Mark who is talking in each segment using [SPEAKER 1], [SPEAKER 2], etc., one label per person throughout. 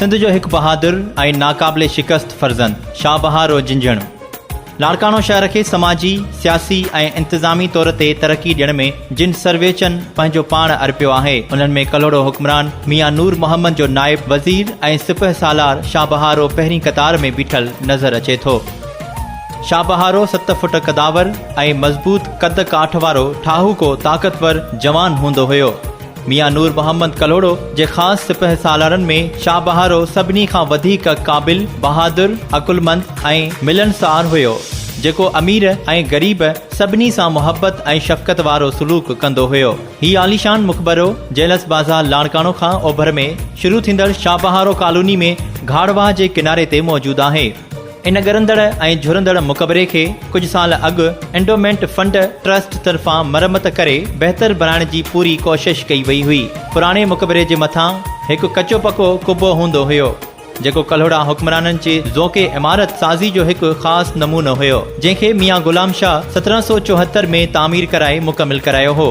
[SPEAKER 1] سنڌ جو هڪ بهادر ۽ ناقابل شڪست فرزند شاهه بهارو جنجهڻ لاڙڪاڻو شهر کي سماجي، سياسي ۽ انتظامي طور تي ترقي ڏيڻ ۾ جن سرويچن پنهنجو پاڻ ارپيو آهي انهن ۾ ڪلهوڙو حڪمران ميان نور محمد جو نائب وزير ۽ سپهه سالار شاهه بهارو پهرين قطار ۾ بيٺل نظر اچي ٿو. شاهبهارو ست فٽ قداور ۽ مضبوط قد ڪاٺ وارو ٺاهوڪو طاقتور جوان هوندو هيو. ميان نور محمد ڪلهوڙو جي خاص سپهه سالارن ۾ شاهبهارو سڀني کان وڌيڪ قابل، بهادر، عقلمند ۽ ملنسار هيو، جيڪو امير ۽ غريب سڀني سان محبت ۽ شفقت وارو سلوڪ ڪندو هيو. هي عاليشان مقبرو جيلس بازار لاڙڪاڻو کان اوڀر ۾ شروع ٿيندڙ شاهبهارو ڪالوني ۾ گهاڙ واهه جي ڪناري تي موجود آهي. ان ڳرندڙ ۽ جهرندڙ مقبري کي ڪجهه سال اڳ انڊومينٽ فنڊ ٽرسٽ طرفان مرمت ڪري بهتر بڻائڻ جي پوري ڪوشش ڪئي وئي هئي. پراڻي مقبري جي مٿان هڪ ڪچو پڪو قبو هوندو هيو، جيڪو ڪلهوڙا حڪمرانن جي ذوقي عمارت سازي جو هڪ خاص نمونو هيو، جنهن کي ميان غلام شاهه سترهن سؤ چوهتر ۾ تعمير ڪرائي مڪمل ڪرايو هو.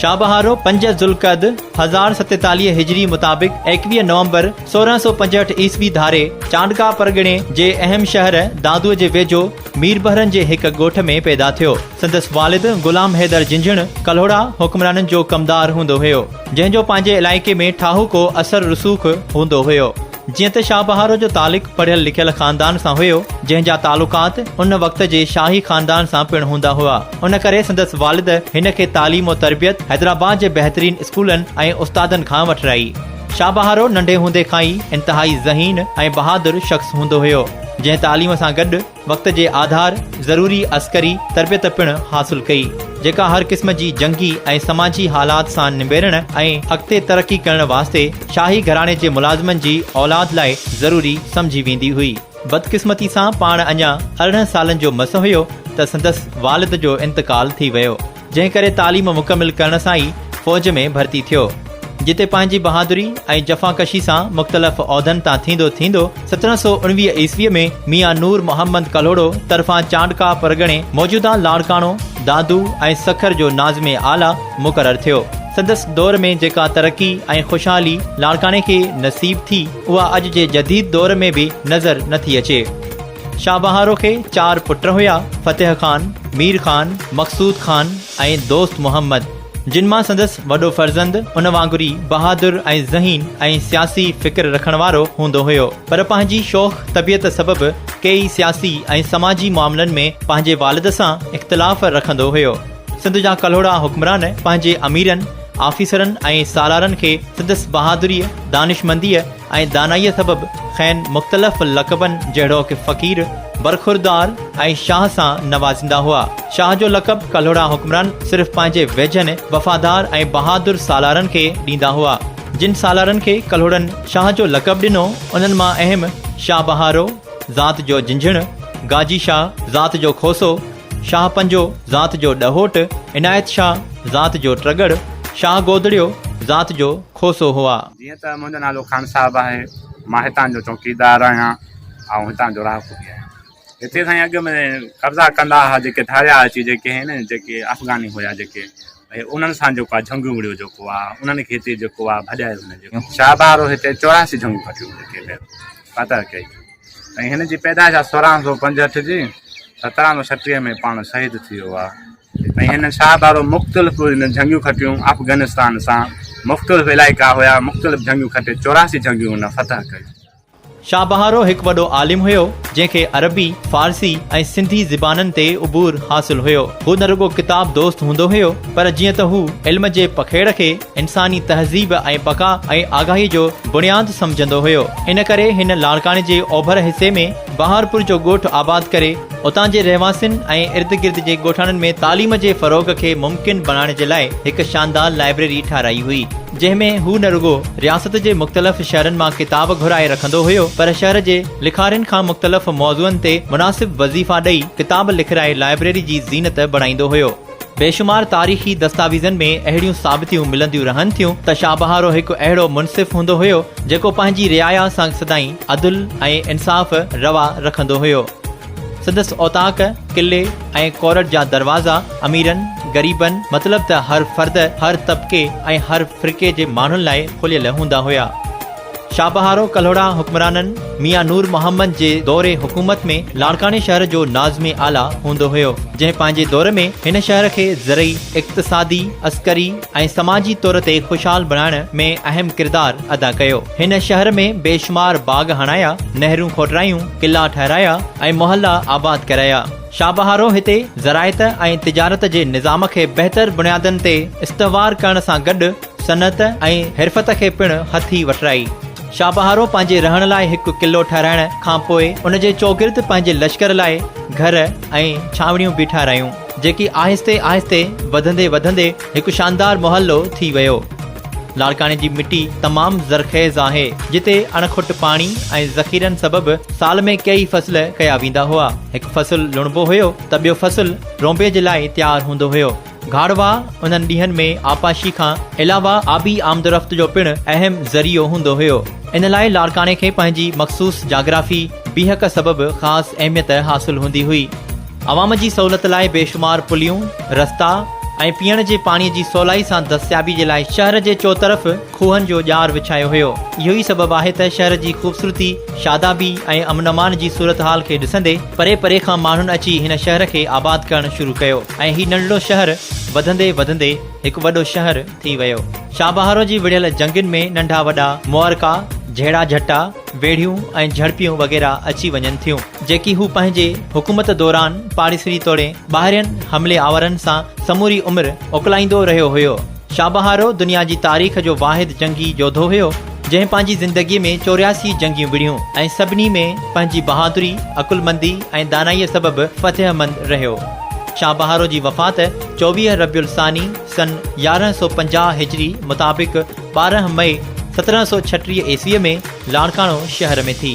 [SPEAKER 1] شابهارو پنج ذوالقعد هزار ستيتاليهه هجري مطابق ايڪويهه نومبر سورهن سؤ پنجهٺ عيسوي ڌاري چانڊڪا پرڳڻي جي اهم شهر دادوء جي ويجهو ميربحرن جي هڪ ڳوٺ ۾ پيدا ٿيو سندس والد غلام حيدر جنجهڻ ڪلهوڙا حڪمرانن جو ڪمدار هوندو هيو جنهن جو پنهنجي علائقي ۾ ٺاهوڪو اثر رسوخ هوندو هيو جيئن ته شاهه بهارو جو تعلق پڙهيل لکيل خاندان سان هيو، جنهن جا تعلقات ان وقت جي شاهي خاندان سان پڻ هوندا هئا، ان ڪري سندس والد هن کي تعليم و تربيت حيدرآباد جي بهترين اسڪولن ۽ استادن کان وٺرائي. شاهه بهارو ننڍي هوندي کان ئي انتهائي ذهين ۽ بهادر شخص هوندو هيو، جنهن تعليم سان گڏ، وقت جي آڌار ضروري عسڪري تربيت پڻ حاصل ڪئي، جيڪا هر قسم جي جنگي ۽ سماجي حالات سان نبيرڻ ۽ اڳتي ترقي ڪرڻ واسطي شاهي گهراڻي جي ملازمن جي اولاد لاء ضروري سمجهي ويندي هئي. بدقسمتي سان پاڻ اڃا ارڙهن سالن جو مس هيو ته سندس والد جو انتقال ٿي ويو. جنهن ڪري تعليم مڪمل ڪرڻ سان ئي فوج ۾ ڀرتي ٿيو. جتي پنهنجي بهادري ۽ جفاڪشي سان مختلف عهدن تان ٿيندو ٿيندو سترهن سؤ اڻويهه عيسويء ۾ ميان نور محمد ڪلهوڙو طرفان چانڊڪا پرڳڻي، موجوده لاڙڪاڻو، دادو ۽ سکر جو ناظم اعليٰ مقرر ٿيو. سندس دور ۾ جيڪا ترقي ۽ خوشحالي لاڙڪاڻي کي نصيب ٿي، اها اڄ جي جديد دور ۾ به نظر نٿي اچي. شاهه بهارو کي چار پٽ هيا، فتح خان، مير خان، مقصود خان ۽ دوست محمد، جن مان سندس وڏو فرزند ان وانگر ئي بهادر ۽ ذهين ۽ سياسي فڪر رکڻ وارو هوندو هيو پر پنهنجي شوخ طبيعت سبب ڪيئي سياسي ۽ سماجي معاملن ۾ پنهنجي والد سان اختلاف رکندو هيو. سنڌ جا ڪلهوڙا حڪمران پنهنجي اميرن، آفيسرن ۽ سالارن کي سندس بهادريء، دانشمنديء، ۽ دانائيء سبب کين مختلف لقبن جهڙوڪ فقير، برخوردار ۽ شاهه سان نوازيندا هئا. شاهه جو لقب ڪلهوڙا حڪمران صرف پنهنجي ويجهن، وفادار ۽ بهادر سالارن کي ڏيندا هئا. جن سالارن کي ڪلهوڙن شاهه جو لقب ڏنو، انهن مان اهم شاهه بهارو، ذات جو جنجهڻ، گاجي شاهه، ذات جو کوسو، شاهه پنجو، ذات جو ڏهوٽ، عنايت شاهه، ذات جو ٽڳڙ، شاهه گودڙيو، ذات جو کوسو هئا. جيئن ته منهنجو نالو
[SPEAKER 2] خان صاحب آهي، مان هتان جو چوڪيدار آهيان ۽ هتان جو رهاڪو به آهيان. هتي سائين اڳ ۾ قبضا ڪندا ها جيڪي ڌاريا اچي جيڪي هين نه جيڪي افغاني هيا جيڪي ڀئي انهن سان جيڪو آهي جهنگيون وڙهيو جيڪو آهي انهن کي هتي جيڪو آهي ڀڄائي وڃي جيڪو شاهه بهارو هتي چوراسي جهنگيون کٽيون جيڪي ڀئي ادا ڪئي ۽ هن جي پيدائش آهي سورهن سؤ پنجهٺ جي سترهن سؤ ڇٽيهه ۾ پاڻ شهيد ٿي ويو آهي ۽ هن شاهه بارو مختلف هن جنگيون کٽيون افغانستان سان مختلف علائقا هيا مختلف جنگيون کٽي چوراهسي جنگيون هن فتح ڪيون. شاهه بهارو
[SPEAKER 1] هڪ وڏو عالم هيو جنهن کي عربي، فارسي ۽ سنڌي زبانن تي عبور حاصل هيو. هو نه رڳو ڪتاب دوست هوندو هيو پر جيئن ته هو علم جي پکيڙ کي، انساني تهذيب ۽ بقا ۽ آگاهي جو بڻياد سمجهندو هيو. ان ڪري هن لاڙڪاڻي جي اوڀر حصي ۾ بهارپور جو ڳوٺ آباد ڪري اتان جي رهواسين ۽ ارد گرد جي ڳوٺاڻن ۾ تعليم جي فروغ کي ممڪن بڻائڻ جي لاء هڪ شاندار لائبريري ٺهرائي هئي جنهن ۾ هو نه رڳو رياست جي مختلف شهرن مان ڪتاب گهرائي رکندو هيو پر شهر جي لکارين کان مختلف موضوعن تي مناسب وظيفا ڏئي ڪتاب لکرائي لائبريري جي زينت بڻائيندو هيو. بيشمار تاريخي دستاويزن ۾ اهڙيون ثابتيون ملنديون رهن ٿيون ته شاهه بهارو هڪ اهڙو منصف هوندو هيو، جيڪو پنهنجي رعايا سان سدائين عدل ۽ انصاف روا رکندو هيو. سندس اوطاق، قلعي ۽ ڪورٽ جا دروازا اميرن، غريبن مطلب ته هر فرد، هر طبقي ۽ هر فرقي جي ماڻهن لاء کليل هوندا هيا. شاهبهارو ڪلهوڙا حڪمرانن ميان نور محمد جي دور حڪومت ۾ لاڙڪاڻي شهر جو ناظم اعليٰ هوندو هيو جنهن پنهنجي دور ۾ هن شهر کي زرعي، اقتصادي، عسڪري ۽ سماجي طور تي خوشحال بڻائڻ ۾ اهم ڪردار ادا ڪيو. هن شهر ۾ بيشمار باغ هڻايا، نهرون کوٽرايون، قلعا ٺهرايا ۽ محلا آباد ڪرايا. شاهبهارو هتي زراعت ۽ تجارت جي نظام کي بهتر بنيادن تي استوار ڪرڻ سان گڏ صنعت ۽ حرفت کي پڻ هٿي وٺرائي. شاهه بهارو پنهنجي رهڻ لاء هڪ قلعو ٺهرائڻ کان پوء ان جي چوگرد پنهنجي لشڪر لاء گهر ۽ ڇانوڻيون به ٺهرايون، جيڪي آهستي آهستي وڌندي وڌندي هڪ شاندار محلو ٿي ويو. لاڙڪاڻي جي مٽي تمام زرخيز آهي، جتي اڻکٽ پاڻي ۽ ذخيرن سبب سال ۾ ڪيئي فصل ڪيا ويندا هئا. هڪ فصل لڻبو هيو ته ٻيو فصل رونبي جي لاء تيار هوندو هيو. گهاڙوا انهن ڏينهن ۾ آبپاشي کان علاوه آبي آمدورفت جو پڻ اهم ذريعو هوندو هيو. ان لاء لاڙڪاڻي کي پنهنجي مخصوص جاگرافي، بيهڪ سبب خاص اهميت حاصل هوندي هئي. عوام جي سهولت لاء بيشمار پليون، رستا ۽ پيئڻ جي پاڻي جي سولائي سان دستيابي جي لاء شهر جي چوطرف کوهن جو ڄار وڇايو هيو. اهو ئي سبب آهي ته شهر جي خوبصورتي، شادابي ۽ امن امان جي صورتحال کي ڏسندي پري پري کان ماڻهن اچي هن شهر کي آباد ڪرڻ شروع ڪيو ۽ هي ننڍڙو شهر وڌندي وڌندي هڪ وڏو شهر ٿي ويو. شاهبهارو جي وڙهيل جهنگين ۾ ننڍا وڏا معرڪا، جهيڙا جهٽا، ويڙهيون ۽ جهڙپيون وغيره اچي وڃن ٿيون، جيڪي هو پنهنجي حڪومت دوران پاڙيسري توڙي ٻاهرين حملي آورن سان سموري عمر اڪلائيندو رهيو هيو. شاهه بهارو دنيا جي تاريخ جو واحد جنگي يوڌو هيو، جنهن پنهنجي زندگيء ۾ چورياسي جنگيون وڙهيون ۽ سڀني ۾ پنهنجي بهادري، عقلمندي ۽ دانائيء سبب فتح مند رهيو. شاهه بهارو جي وفات چوويهه ربيع الثاني سن يارهن سؤ پنجاهه هجري مطابق ٻارهن مئي سترهن سؤ ڇٽيهه عيسويء ۾ لاڙڪاڻو شهر ۾ ٿي.